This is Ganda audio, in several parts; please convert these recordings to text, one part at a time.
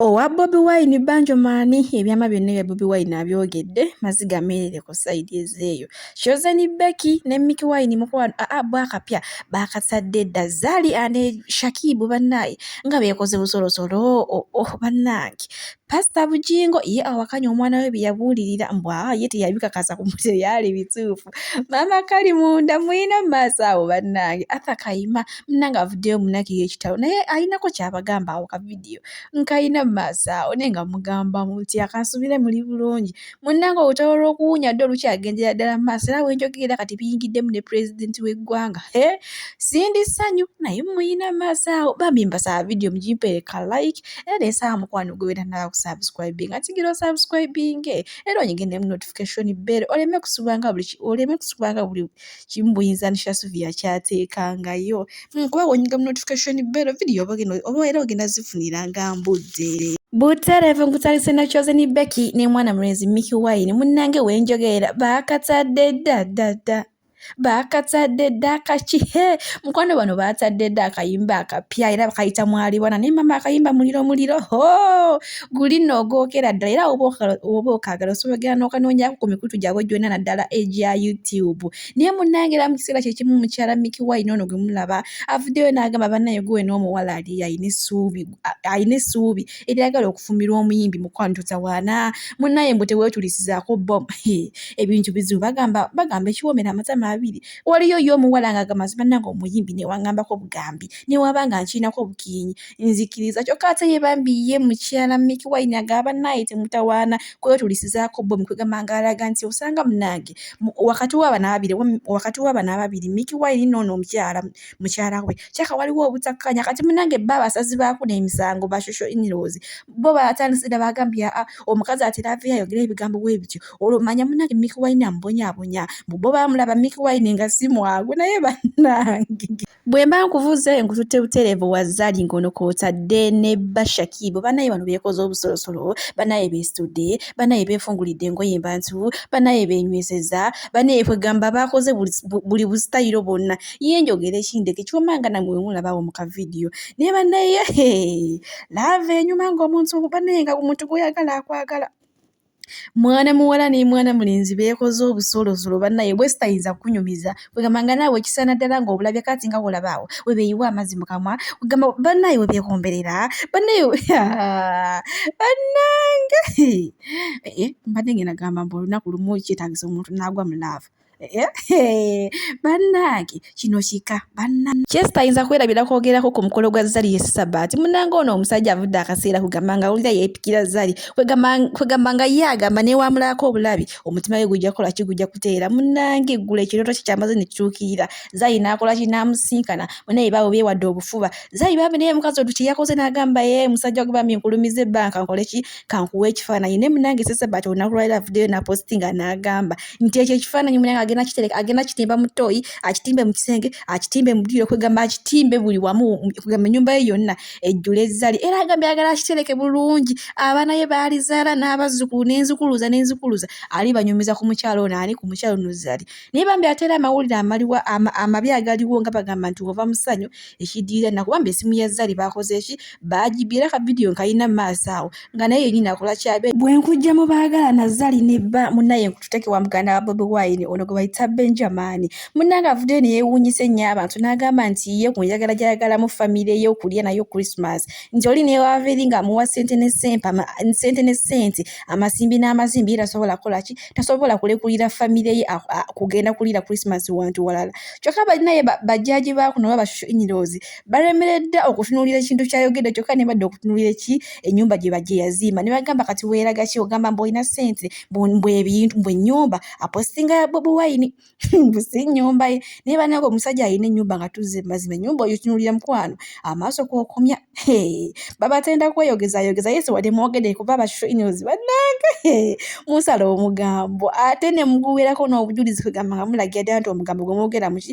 owa bobi wine banjomaani ebyama byonna ebya bobi wine abyogedde maziga ameerere ku sayidi ezeeyo kyozeni beki ne miki wine mukwano aa bwakapya baakatadde dda zaali ane shakibu bannaaye nga beekoze busolosolo oo oh, oh, bannange pasita bujingo ye awakanya omwana we bye yabuulirira mbwa ye teyabikakasa ku mute byali bituufu maama kali munda muyina mu maaso awo bannange atha kayima munange avuddeyo munakiri ekitalo naye ayinako kyabagamba awo ka vidiyo nkayina mu maaso awo naye nga mugamba muti akansubire muli bulungi munnange olutalo lw'okuwunya dda olukyagendera ddala mu maaso era wenjogerera kati biyingiddemu ne pulezidenti w'eggwanga he sindi ssanyu naye muyina mu maaso awo bambi mbasaba vidiyo mugimpeereka like era ensaba mukwano gwewera naba kusubscribing atigira osubscribinge era onyige ne mu notification bell oleme kusubanga buli oleme kusubanga buli kimbuyiza nisha suvia kyateekangayo hmm, kuba wonyinga mu notification bero video oba era ogenda zifunira nga mbudde butereevu nkutandise na chosen becky ne mwana mulenzi miki wine munnange wenjogeera baakatadde dda dda dda baakatadde dda akaki he mukwano bano baatadde dda akayimba akapya era bakayita mwalibwana naye mama akayimba muliro muliro ho guli nno ogwokera ddala era woba okaagala osobola ogenda n'okanoonyako ku mikutu gyabwe gyonna naddala egya youtube naye munnange era mu kiseera kyekimu mukyala miki wine ono gwe mulaba avuddeyo n'agamba bannaye guwe n'omuwala ali alina essuubi alina essuubi eryagala okufumirwa omuyimbi mukwano totawaana munnaye mbu teweetulisizaako bo ebintu bizibu bagamba bagamba ekiwoomera amatama abiri waliyo yo omuwala ng'agamba nze bannange omuyimbi newangambako obugambi newaba nga nkirinako obukiinyi nzikiriza kyokka ate ye bambi ye mukyala miki wayini agaba naye temutawaana kwetulisizaako bo mukwegamba nga alaga nti osanga munange wakati wabano ababiri wakati wabano ababiri miki wayini noono omukyala mukyala we kyaka waliwo obutakkanya kati munange bba abasazi baako n'emisango bashusho inirozi bo batandise dda bagambye aa omukazi atera aveyo ayogera ebigambo bwe bityo olwo manya munange miki wayini amubonyabonya mu bo bamulaba miki wayini nga simwagu naye banange bwe mba nkuvuze nkututte butereevu wa zali ngono kw'otadde ne bashakiibo banaye bano beekoze obusolosolo banaye beesitudde banaye beefungulidde engoye mbantu banaye beenywezeza banaye kwegamba baakoze buli busitayiro bwonna ye njogera ekindeke kyuma nga namwe wemulabawo mu kavidiyo naye banaye laava enyuma ng'omuntu banaye nga omuntu gw'oyagala akwagala mwana muwala ne mwana mulenzi beekoze obusolosolo bannaye bwe sitayinza kukunyumiza kwegamba nga naawe ekisaana ddala nga obulabye kati nga wolabaawo we beeyiwa amazzi mu kamwa kwegamba bannaye we beekomberera bannaye bannange eh, eh, mbadde ngenda gamba mbu olunaku lumu kyetagisa omuntu n'agwa mu laavu bannange kino kika bannange kyesita ayinza kwerabira kwogerako ku mukolo gwa zali ye sabaati munange ono omusajja avudde akaseera kugamba nga awulira yeepikira zali kwegamba nga ye agamba newamulaako obulabi omutima we gujja kukola ki gujja kuteera munange eggula ekirooto kye kyamaze ne kituukirira zali n'akola ki n'amusinkana munaye baawe beewadde obufuba zali bambi naye mukazi odu kye yakoze n'agamba ye musajja gwe bambi nkulumiza ebbanka nkole ki kankuwa ekifaananyi naye munange sesabati olunaku lwaliro avuddeyo naposti nga n'agamba nti ekyo ekifaananyi munange agenda kitereka agenda kitimba mu tooyi akitimbe mu kisenge akitimbe mu dduyiro kwegamba akitimbe buli wamu kwegamba ennyumba ye yonna ejjula ezzali era agambye agala akitereke bulungi abaana ye baalizaala n'abazzukulu n'enzukuluza n'enzukuluza ali banyumiza ku mukyalo ono ani ku mukyalo ono zali naye bambi ate era amawulire amaliwa amabi agaliwo nga bagamba nti ova musanyu ekidirira nakuba mbe esimu ya zari bakoze eki bajibye era kavidiyo nkalina maaso awo nga naye yenyini akola kyabe bwenkujja mu baagala na zari ne bba munaye nkututeke wa muganda wa bobi wine ono gwe bayita benjamani munange avuddeyo neyewuunyisa ennyo abantu n'agamba nti ye ku njagala gyayagalamu famire ye okulya nayo christmas nti oli newaava eri ng'amuwa sente ne sente ama, sente ne sente amasimbi n'amazimbi era asobola kukola ki tasobola kulekulira famire ye kugenda kuliira krisimasi wantu walala kyokka balinaye bajjaaji baakuno oba bashusho inirozi balemeredde okutunuulira ekintu kyayogedde kyokka nebadde okutunuulira eki ennyumba gye bajje yaziima ne bagamba kati weeraga ki ogamba mbu olina ssente mbwebintu mbwenyumba apostinga buwayini mbusi ennyumba ye naye banange omusajja alina ennyumba nga tuzze mazima ennyumba oyo kinulira mukwano amaaso kwokomya babatenda kweyogezayogeza yesu wade mwogede kuba abashinos banange musala omugambo ate ne muguwerako n'obujulizi kugamba nga mulagira ddala nti omugambo gwe mwogera muki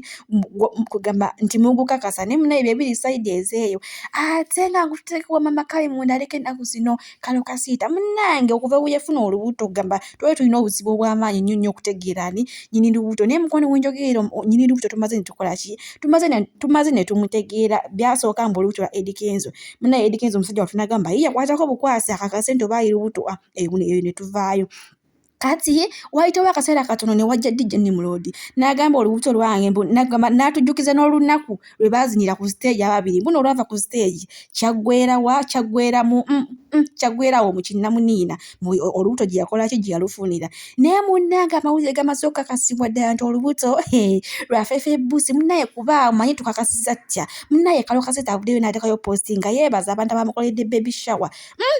kugamba nti mugukakasa naye munaye byebiri saidi ezeeyo ate nga ngututekewa mama kayi munda aleke ennaku zino kano kasiita munange okuva weyafuna olubuto ogamba twali tulina obuzibu obwamaanyi nnyo nnyo okutegeera ani nyini lubuto naye mukwano wenjogeera nyini lubuto tumaze netukola ki tumaze netumutegeera byasooka mbu olubuto lwa edikenzo munaye edikenzo omusajja watunagamba ye yakwatako bukwasi akakase nti oba ayi lubuto ah, eyo netuvaayo kati ye wayitawo akaseera katono ne wajja dj nimulodi n'agamba olubuto lwange nagamba n'atujjukiza n'olunaku lwe baazinira ku siteegi ababiri mbuno olwava ku siteegi kyaggwerawa kyaggweramu mm, mm, kyaggwerawo mu kinnamuniina olubuto gye yakolaki gye yalufunira naye munnange amawulire gamaze okukakasibwa ddala nti olubuto lwafeefa ebbusi munnaye kuba omanyi tukakasiza ttya munnaye kalokaseta avuddeyo n'atekayo posti nga yeebaza abantu abamukoledde baby shower mm,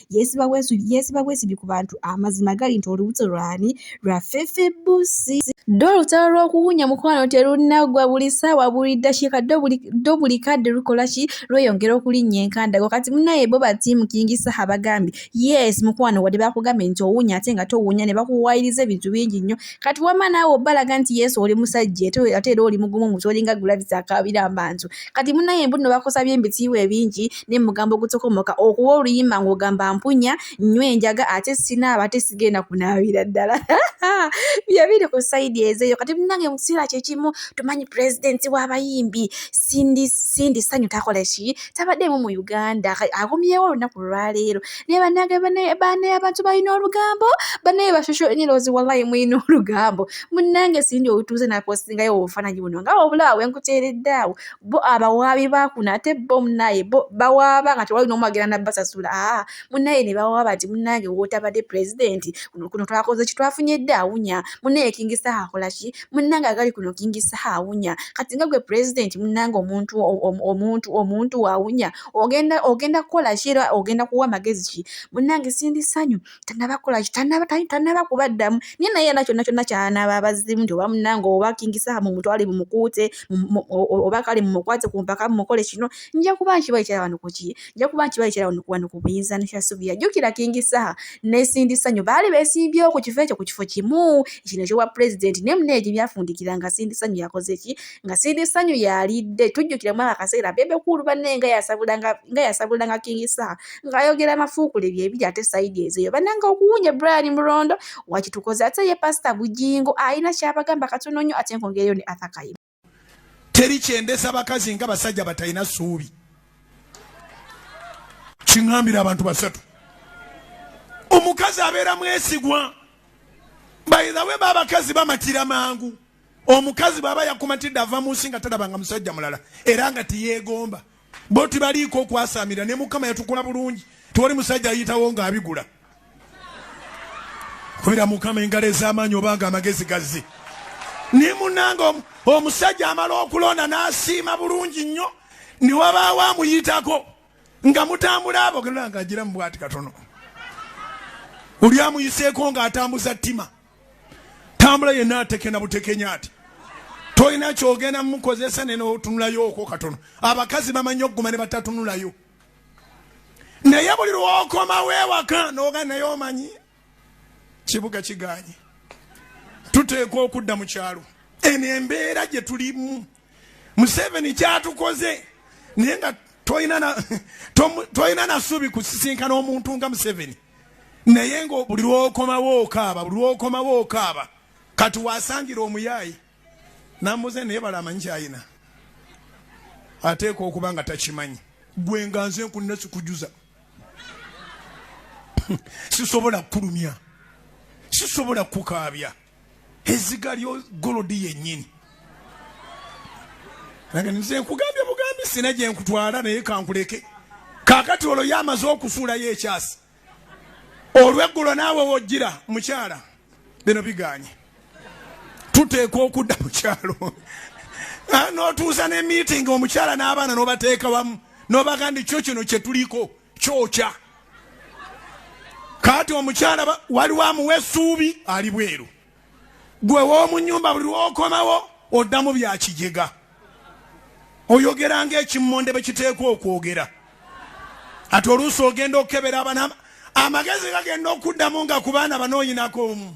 yeesiba bwesu yeesiba bwesibi ku bantu amazima gali nti olubuto lwani lwa fefe busi ddo olutalo lw'okuwunya mukwano terunaggwa buli ssaawa buli ddakiika ddo buli kadde lukola ki lweyongera okulinnya enkandago kati munaye bo batiimu kingi saha bagambye yes mukwano wadde bakugambye nti owunya ate nga towunya ne bakuwayiriza ebintu bingi nnyo kati wama naawe obalaga nti yesu oli musajja ate era oli mugumu mutolinga gulabisa akabira mbantu kati munaye mbuno bakusabye embitiibwa ebingi naye mugamba ogutokomoka okuwa oluyimba ng'ogamba mpunya nnyo enjaga ate sinaaba ate sigenda kunaabira ddala byebiri ku saidi ezeeyo kati munange mu kiseera kyekimu tumanyi pulezidenti w'abayimbi sindi sanyu takola ki tabaddeemu mu uganda agumyewo olunaku lwaleero naye banange banaye abantu balina olugambo banaye bashosho eniroozi wallayi mulina olugambo munnange sindi otuuze napostingayo obufananyi buno nga obulaawo enkuteeredde awo bo abawaabi bakuno ate bo munaye bo bawaaba nga tewali nomu agenda nabbasasula aa munaye ne bawaaba nti munnange wotabadde pulezidenti kuno kuno twakoze ki twafunye dde awunya munaye kingisa akola ki munnange agali kuno kingisa awunya kati nga gwe pulezidenti munnange omuntu omuntu omuntu waawunya ogenda ogenda kukola ki era ogenda kuwa magezi ki munnange sindi sanyu tanaba kola ki tanaba tanaba kubaddamu naye naye yena kyonna kyonna kyanaba abazzimu nti oba munange oba kingisaha mumutwale mumukuute oba kale mumukwate ku mpaka mumukole kino nja kuba nkibayikyera wano kuki nja kuba nkibayikyera wano kuwano ku buyinza ne kyasubira jjukira kingisaha nesindisa nyo baali besimbyewo ku kifo ekyo ku kifo kimu kino ekyowa pulezidenti naye munaye gye byafundikira nga sindisa nyo yakoze ki nga siri sanyu yalidde tujjukira mwaka akaseera bebe kuulu banne nga yasabulanga nga yasabulanga king sa nga ayogera amafuukule byebiri ate saidi ezeyo bananga okuwunya brian murondo wakitukoze ate ye pasita bujingo alina kyabagamba katono nnyo ate nkongereyo ne athakayi teri kyendesa bakazi nga basajja batalina suubi kiŋambira abantu basatu omukazi abeera mwesigwa bayizawe babakazi bamatira mangu omukazi bwaba yakumatidde ava mu nsi nga talabanga musajja mulala era nga tiyegomba bo tibaliiko okwasamira ne mukama yatukula bulungi tiwali musajja ayitawo nga abigula kubira mukama engalo ez'amaanyi obanga amagezi gazze ne munanga omusajja amala okulonda n'asiima bulungi nnyo ne wabaawo amuyitako nga mutambula abo genda nga agira mu bwati katono oli amuyiseeko ng'atambuza ttima tambula yenna atekena butekenya ati tolina kyogenda mukozesa nenotunulayo okwo katono abakazi bamanyi okuguma ne batatunulayo naye buli lwokomawo ewaka noga naye omanyi kibuga kiganye tuteekwa okudda mu kyalo eno embeera gye tulimu museveni kyatukoze naye nga tolina nasuubi kusisinkana omuntu nga museveni naye nga buli lwokomawo okaaba buli lwokomawo okaaba kati wasangira omuyaayi nambuze naye bala amanyi kyayina ateeka okuba nga takimanyi gwe nga nze nkunina sikujuza sisobola kukulumya sisobola kukukaabya eziga lyo golodi yennyini nange nze nkugambye bugambi sina gye nkutwala naye kankuleke kakati olwo ye amaze okufuulayo ekyasi olweggulo naawe wojjira mukyala bino biganye tuteekwa okudda mukyalo ah, notuusa ne meeting omukyala n'abaana nobateeka wamu nobaga ndi kyo kino kyetuliko kyokya kaati omukyala waliwo amuwa esuubi ali bweru gwe womunyumba buli lwokomawo oddamu byakijega oyogera nga ekimmonde bwe kiteekwa okwogera ati oluusi ogenda okukebera abana amagezi gagenda okuddamu nga ku baana banoonyinako omu